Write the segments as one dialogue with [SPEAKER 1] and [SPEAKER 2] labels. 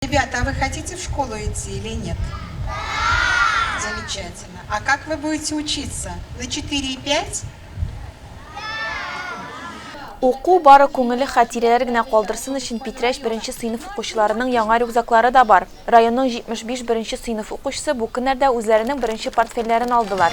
[SPEAKER 1] Ребята, а вы хотите в школу идти или нет? Да! Замечательно. А как вы будете учиться? На 4 и 5?
[SPEAKER 2] Уку бары күңелле хатирәләр генә калдырсын өчен Питрәч беренче сыйныф укучыларының яңа рюкзаклары да бар. Районның 75 беренче сыйныф укучысы бу көннәрдә үзләренең беренче портфельләрен алдылар.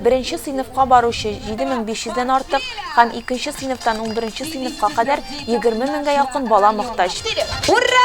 [SPEAKER 2] Беренче сыйныфка баручы 7500 дән артык һәм икенче сыйныфтан унберенче сыйныфка кадәр 20 меңгә якын
[SPEAKER 3] бала
[SPEAKER 2] мохтаҗ. Ура!